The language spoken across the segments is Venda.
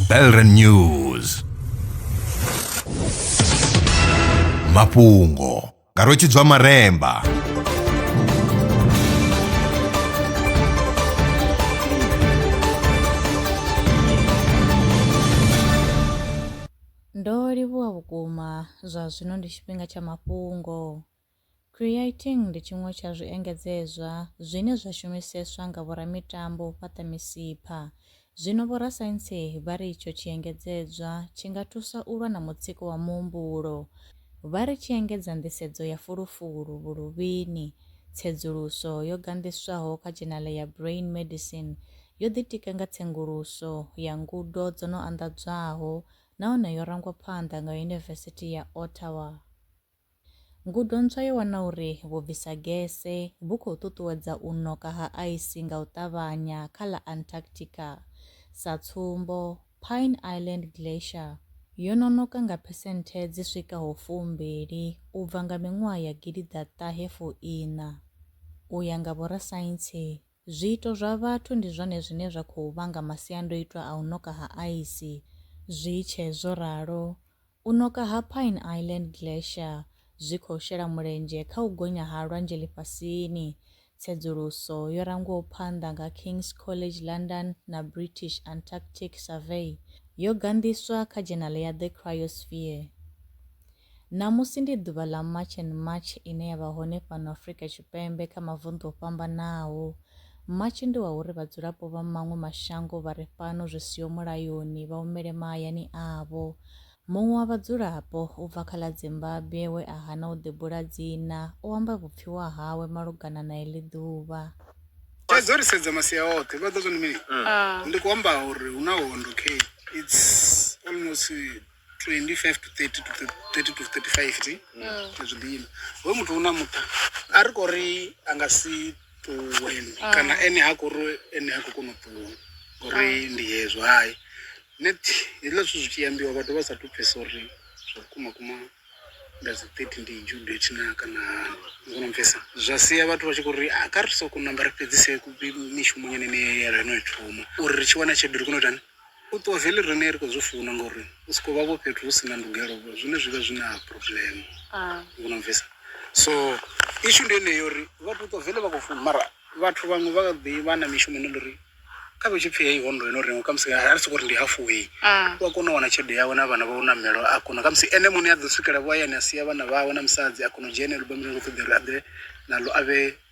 Belren News mafhungo nga rwetshidzwa maremba Ndo livhuwa vhukuma zwa zwino ndi tshifhinga tsha mafhungo. Creating ndi tshiṅwe tsha zwiengedzezwa zwine zwa shumiseswa nga vhoramitambo u fhaṱa misipha. Zwino vhorasaintsi vha ri itsho tshiengedzedzwa tshi nga thusa u lwa na mutsiko wa muhumbulo. Vha ri tshi engedza nḓisedzo ya fulufulu vhuluvhini. Tsedzuluso yo ganḓiswaho kha dzhenale ya Brain Medicine yo ḓitika nga tsenguluso ya ngudo dzo no anḓadzwaho nahone yo rangwa phanḓa nga Yunivesithi ya Ottawa. Ngudo ntswa yo wana uri vhubvisagese vhu khou ṱuṱuwedza u ṋoka ha aisi nga u ṱavhanya kha ḽa Antarctica. Sa tsumbo, Pine Island Glacier yo no ṋoka nga phesenthe dzi swikaho fumbili u bva nga miṅwaha ya gidiḓaṱahe fuiṋa. U ya nga vhorasaintsi, Zwiito zwa vhathu ndi zwone zwine zwa khou vhanga masiandoitwa a u ṋoka ha aisi. Zwi tshe zwo ralo, u ṋoka ha Pine Island Glacier zwi khou shela mulenzhe kha u gonya ha lwanzhe ḽifhasini. Tsedzuluso yo rangwaho phanḓa nga King's College London na British Antarctic Survey yo ganḓiswa kha dzhenaḽe ya The Cryosphere. Ṋamusi ndi ḓuvha ḽa March and March ine ya vha hone fhano Afrika Tshipembe kha mavunḓu o fhambanaho. March ndi wa uri vhadzulapo vha maṅwe mashango vha re fhano zwi siho mulayoni vha humele mahayani avho. Muṅwe wa vhadzulapo u bva kha ḽa Zimbabwe we a hana u ḓibula dzina o amba vhupfiwa hawe malugana na heḽi ḓuvha. Thaidzo ri sedza masia oṱhe vha ḓo zwo ndi mini ndi khou amba uri hu na hondo kheyi it's almost 25 to 30 to 30 to 35 ti mm. zwi ḓina hoyu muthu u na muṱa a ri kho ri a nga si ṱuwe ah. kana ene ha khou ri ene ha khou kona u ṱuwa ngori ah. ndi hezwo hai net hezwiḽa zwithu zwi tshi ambiwa vhathu vha sa tu pfesa uri zwa vhukuma kuma nda dzi 30 ndi judo tshina kana hani ngona mfesa zwa sia vhathu vha tshi khou ri a ah, kha ri soko namba ri fhedzise mishumo nyene ne ya rano i thoma uri ri tshi wana tshelede ri kone u itani U ṱuwa vele rine ri khou zwi funa ngori u soko vha vho fhethu hu si na ndugelo zwine zwi vha zwi na problem u no bvisa so issue ndi yeneyo uri vha to ṱuwa vele vha khou funa mara vhathu vhaṅwe vha kha ḓi vha na mishumo ine uri kha vhe tshi pfhi heyi hondo ino renga khamusi a ri soko ri ndi hafu heyi u a kona u wana tshelede yawe na vhana vha u namelo a kona khamusi ene muṋe a ḓo swikela vho hayani a sia vhana vhawe na musadzi a kona u dzhia eneo lubammbiri a kho ṱoḓa uri a ḓe naḽo a vhe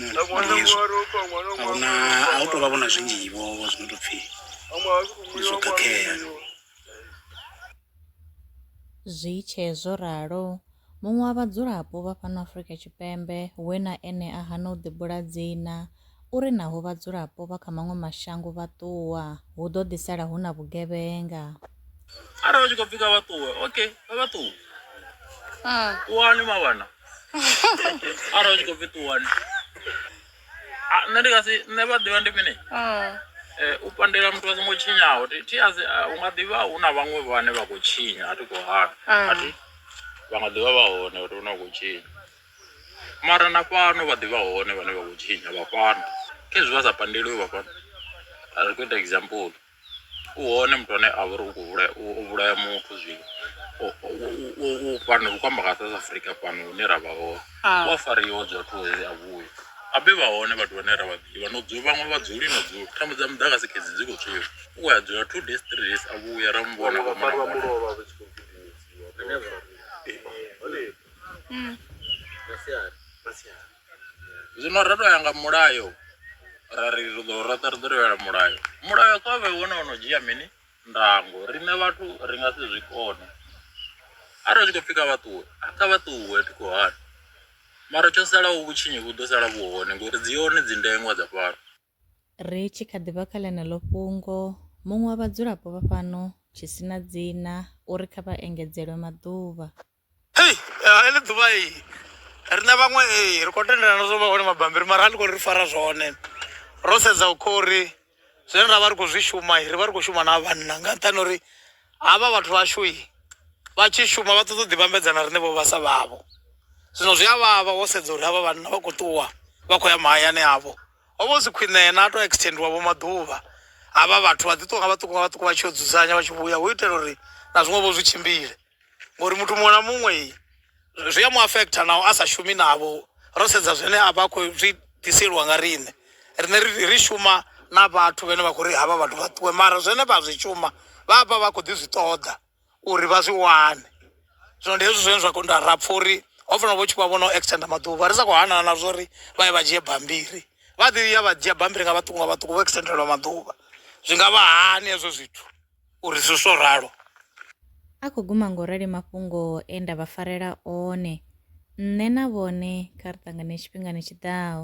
ndi hezwo a hu na a hu tou vha vho na zwinzhi vho vho zwi no tou pfhi ndi zwo khakhea Zwi tshe zwo ralo, muṅwe wa vhadzulapo vha fhano Afrika Tshipembe we na ene a hana u ḓibula dzina u ri naho vhadzulapo vha kha maṅwe mashango vha ṱuwa, hu ḓo ḓi sala hu na vhugevhenga. arali vha tshi khou pfhi kha vha ṱuwe okay kha vha ṱuwe Mm. ṱuwani mavhana arali vha tshi khou pfhi ṱuwani Ah, nṋe ndi nga si nṋe vha ḓivha ndi mini Mm. Eh, u pandela muthu a songo tshinyaho thi thi a si ah, u nga ḓivha hu na vhaṅwe vhane vha khou tshinya a thi khou hana Mm. a thi vha nga ḓivha vha hone uri hune vha khou tshinya mara na fhano vha ḓivha hone vhane vha khou tshinya vha fhano khezwi vha sa pandeliwe vha fhano a ri khou ita example u hone muthu ane a vha uri u khou vhulaya u vhulaya muthu zwino u fhano u kwamba nga south africa fhano hune ra vha hone u a fariwa dza vhathu uri a vhuye abe vha hone vhathu vhane ra vha ḓivha no dzula vhaṅwe vha dzuli no dzula thambo dza muḓagasi khedzi dzi khou tswiwa u khou ya dzula two days three days a vhuya ra mu vhona vha mona vhona masiari Zwino ro to ya nga mulayo ra ri ri ḓo roṱa ri ḓo tevhela mulayo mulayo kha vhe wone ono dzhia mini ndango riṋe vhathu ri nga si zwi kone arali tshi khou pfhi kha vha ṱuwe kha vha ṱuwe thi khou hana mara tsho salaho vhutshinyi vhu ḓo sala vhu hone ngori dzi hone dzi ndengwa dza fhano. Ri tshi kha ḓi vha kha ḽeneḽo fhungo, muṅwe wa vhadzulapo vha fhano, tshi si na dzina, u ri kha vha engedzelwe maḓuvha. Hei! Nga heḽi ḓuvha hei, riṋe vhaṅwe hei ri khou tendelana zwo vha hone mabambiri mara a ḽi khou ri fara zwone. Ro sedza kha uri zwine ra vha ri khou zwi shuma, ri vha ri khou shuma na ha vhanna nga nṱhani ha uri havha vhathu vhashu vha tshi shuma vha ṱoḓa u ḓi vhambedza na riṋe vho vhasa vhavho. Zwino zwi a vhavha wo sedza uri havha vhanna vha khou ṱuwa vha khou ya mahayani avho. Ho vha hu si khwine yena a tou extendiwa vho maḓuvha havha vhathu vha ḓi ṱuwa nga vhaṱuku nga vhaṱuku vha tshi yo dzudzanya vha tshi vhuya hu itela uri na zwiṅwe vho zwi tshimbile ngori muthu muṅwe na muṅwe zwi a mu afektha naho a sa shumi navho ro sedza zwine a vha khou zwi ḓiseliwa nga riṋe riṋe ri shuma na vhathu vhane vha khou ri havha vhathu vha ṱuwe mara zwine vha zwi shuma vha vha vha khou ḓi zwi ṱoḓa. uri vha zwi wane zwino ndi hezwi zwine zwa kho nda ra pfha uri ho fanela vho tshi vha vhono extender maḓuvha ri sa khou hanana na zwori vha ye vha dzhie bammbiri vha ḓi ya vha dzhia bammbiri nga vhaṱuku nga vhaṱuku vho extendelwa maḓuvha zwi nga vha hani hezwo zwithu uri zwi so ralo a khou guma ngo rali mafhungo e nda vha farela one nṋe na vhone kha ri ṱangane tshifhingani tshiḓaho